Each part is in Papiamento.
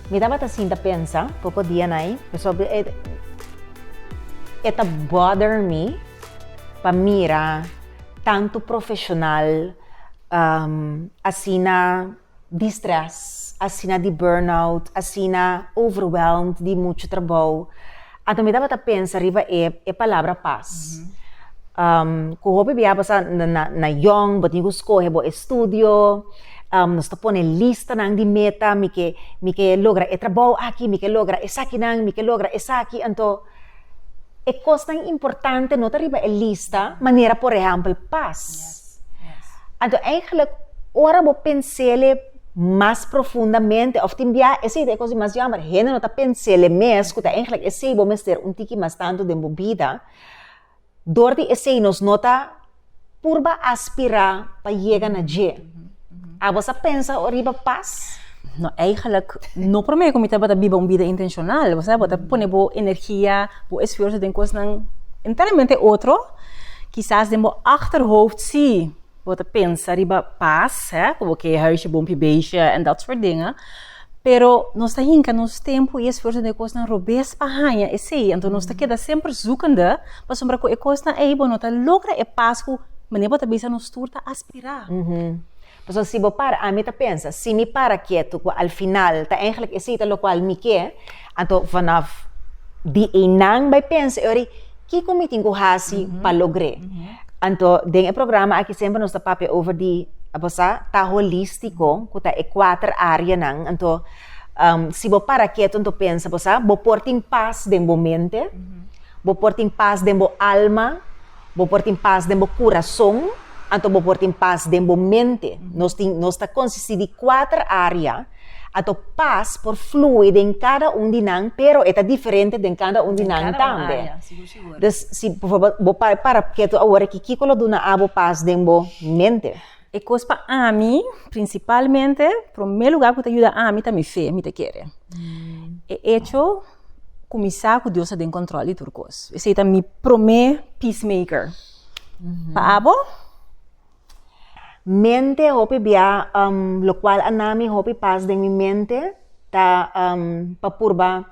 Mi tabata sinta pensa poko dia na ei pasobra e e ta bother mi pa mira tantu profesional asina. di stress, asina di burnout, asina overwhelmed di muchu trabou. Anto mi tabata pensa riba e, e palabra pas. Um, ku hopi bia basa na, na, na yong, bo tin ku skohe bo estudio, um, nos ta pone listanan di meta, mi ke, mi ke logra e trabou aki, mi ke logra esakinan, mi ke logra esaki, anto, e kosnan importante no ta riba e lista, manera por ehèmpel pas. Anto eigenlik, ora bo pens'e mas profundamente, òf tin bia esei ta e kos di mas yòmber, hende no ta pens'e mes ku ta eigenlik esei bo mester un tiki mas tantu den bo bida, Dor di esei nos no ta purba aspirá pa yega na dje. Abos a pensa oriba pas? No, eigenlijk no promé ku mi tabata biba un bida intenshonal. Bo sa, bo ta pone bo energia, bo esfuerso den kosnan enteramente otro. Kisas den bo achterhoofd sí. bo ta pensa riba pas, hè, como que huisje bon pi beisje en dat soort dingen. Pero nos ta hinca nos tempo y esfuerzo den e cosnan robes pa haña esey. Anto nos ta keda semper zoekende, pasobra cu e cosnan ey bo no ta logra e pas cu, mane bo ta bisa, nos tur ta aspira. Pasobra si bo para, ami ta pensa, si mi para keto cu al final ta eindelijk esey ta locual mi ke, Anto vanaf di einan bai pensa e ori kiko mi tin ku hasi pa logr'é. Anto den e programa aki semper nos ta papia over di a bo sa ta holístiko ku ta e kuater áreanan. Anto si bo para ketu anto pensa bo sa bo por tin pas den bo mente, bo por tin pas den bo alma. Bo por tin pas den bo kurason, anto bo por tin pas den bo mente. Nos tin, nos ta konsisti di kuater área, anto pas por flui den kada un di nan, pero e ta diferente den kada un di nan tambe. Dus, si por forbol bo para para ketu awor aki, kiko lo duna abo pas den bo mente? E kos pa ami, prinsipalmente, promé lugá ku ta yuda ami ta mi fe, mi ta kere e echo. kuminsá ku Dios ta den kontrol di tur kos. Esei ta mi promé peacemaker. Pa abo, mente hopi bia lo kual a na mi hopi pas den mi mente ta pa purba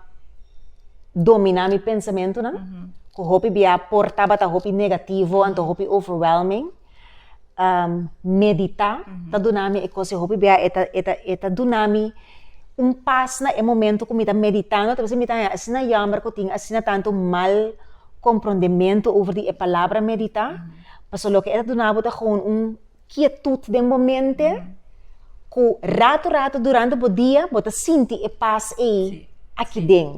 dominá mi pensamentunan, ku hopi bia por tabata hopi negativo anto hopi overwhelming. um, meditá, ta duna mi e kos hopi bia, e ta, e ta, e ta duna mi un pas na e momento ku mi ta meditando, ta bisa mi ta, asina yamber ku tin asina tantu mal komprondementu over di e palabra meditá, paso loke e ta duna bo ta gewoon un kietut den bo mente, ku rato rato durante bo dia bo ta sinti e pas ei aki den.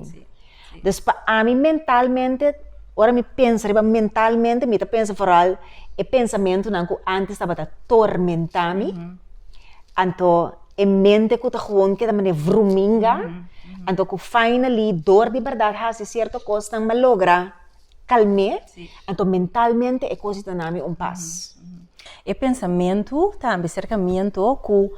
Dus pa ami mentalmente, ora mi pensa riba mentalmente, mi ta pensa foral e pensamentunan ku antes tabata tormentá mi. Anto e mente ku ta gewoon keda manera vruminga, anto ku finally dor di bèrdat hasi sierto kosnan malogra. kalm'é, anto mentalmente e kos di ta na mi un pas. E pensamentu ta ambi serka mi anto ku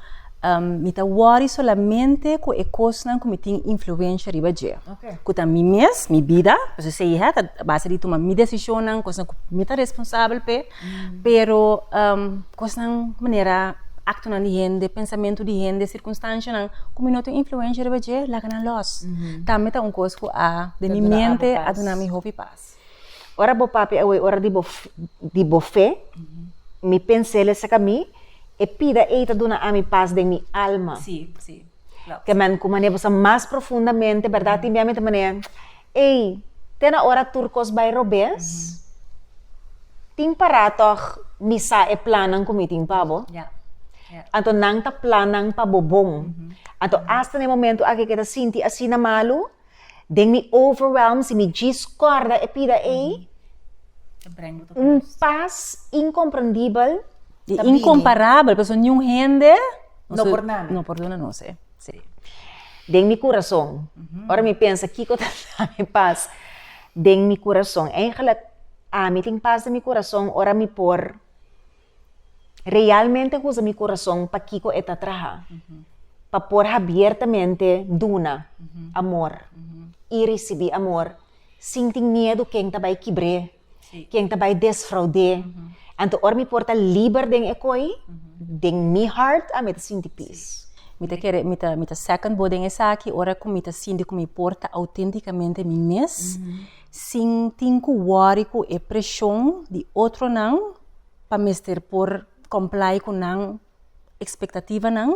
mi ta wòri solamente ku e kosnan ku mi tin influensha riba dje, ku ta mi mes, mi bida, pasobra esei ta base di tuma mi desishonnan, kosnan ku mi ta responsabel p'e. Pero kosnan manera aktonan di hende, pensamentu di hende, sirkunstanshanan ku mi no tin influensha riba dje laga nan lòs. Tambe ta un kos ku a den mi mente a duna mi hopi pas. Ora bo papia awor e ora di bo di bo fe, mi pens'el e saka mi, e pida ei ta duna ami pas den mi alma. Si, si. Kemen ku manera bo sa mas profundamente, berdad? Tin bia mi ta manera, ei, te na ora tur kos bai robes? Tin pará tòg mi sa e plannan ku mi tin pa bo? Ya. Anto nan ta plannan pa bo bon. Anto asta na e momentu akí ke ta sinti asina malu. Den mi overwhelm, si mi djis kòrda e pida ei, un pas inkomprendibel ta bini. Inkomparabel, pasobra niun hende no por duna mi. No por duna nos e. Sí. Den mi kurason, ora mi pensa kiko ta dami pas den mi kurason. Eigenlijk, ami tin pas den mi kurason ora mi por. realmente gusta mi corazón pa kiko e ta traha. Pa por habiertamente duna amor y ricibi amor sin tin miedo ken ta bay kibr'é, ken ta bay desfraud'é. Anto ora mi por ta liber den e kooi, den mi hart a mi ta sinti peace. Mi ta kere, mi ta, mi ta second bo den esaki, ora cu mi ta sinti cu mi por ta auténticamente mi mes, sin tin cu worry cu e presion di otronan. pa mester por comply cu nan expectativanan,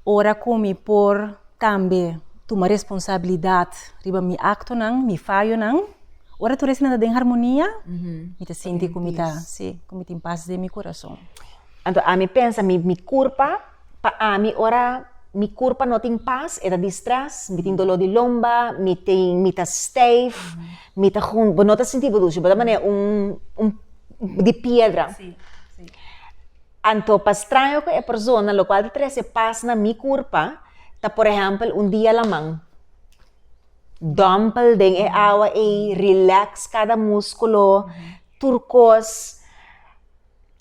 ora cu mi por tambe tuma responsabilidad riba mi actonan, mi fayonan, ora tur esnan ta den harmonia, mi ta sinti cu mi ta, si, cu mi tin paz den mi curason. Anto, ami pensa mi, mi curpa, Pa ami ora mi kurpa no tin pas e ta di strès, mi tin doló di lomba, mi tin mi ta stijf, mi ta hun, bo no ta sinti bo dushi, bo ta manera un un di piedra. Anto pa straño ku e persona lokual ta trese pas na mi kurpa ta por ehèmpel un dia laman dòmpel den e awa ei, rilèks kada muskulo, tur kos.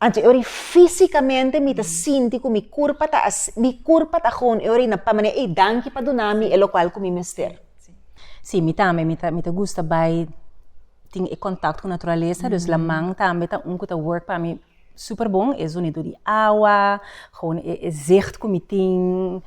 Anto e ora físikamente mi ta sinti ku mi kurpa ta mi kurpa ta hon e ora na pa manera ey danki pa duna mi e lokual ku mi mester. Sí, mi tambe mi ta mi ta gusta bai tin e kontakto ku naturalesa, dus laman tambe ta un ku ta work pa mi super bon, e zonido di awa, hon e e zicht ku mi tin.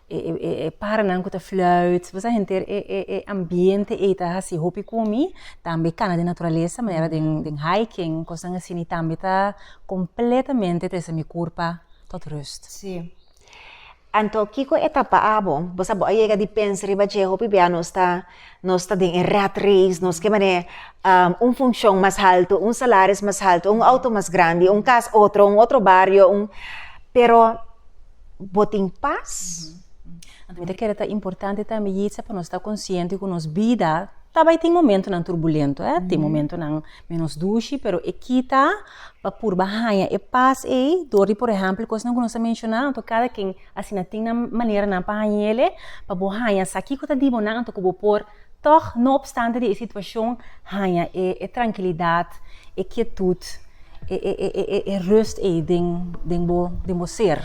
e paranan ku ta fluit, bo sa henter e e e ambiente ei ta hasi hopi ku mi, tambe kana den naturalesa manera den hiking, kosnan asina, i tambe ta kompletamente trese mi kurpa tot rust. Sí. Anto kiko etapa abo? Bo sa bo a yega di pensa riba dje hopi bia nos ta. Nos ta den e rat race, nos ke manera un funcion mas haltu, un salaris mas haltu, un outo mas grandi, un cas otro, un otro bario, un, pero bo tin pas? Anto mi ta kere ta importante tambe Yitza pa nos ta konsiente ku nos bida ta bai tin momentunan turbulentu, tin momentunan menos dushi, pero e kita pa purba haña e pas ei dor di, por ehèmpel, kosnan ku nos a menshona anto, kada ken. Asina tin nan maneranan pa haña el'e, pa bo haña sa kiko ta di bo nan anto ku bo por tòg, no opstante di e situashon, haña e trankilidat, e kietut, e rust ei den bo ser.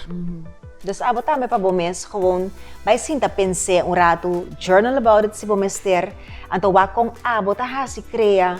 Dus abo tambe pa bo mes gewoon bai sinta pens'e un ratu, journal about it si bo mester, anto wak kon abo ta hasi krea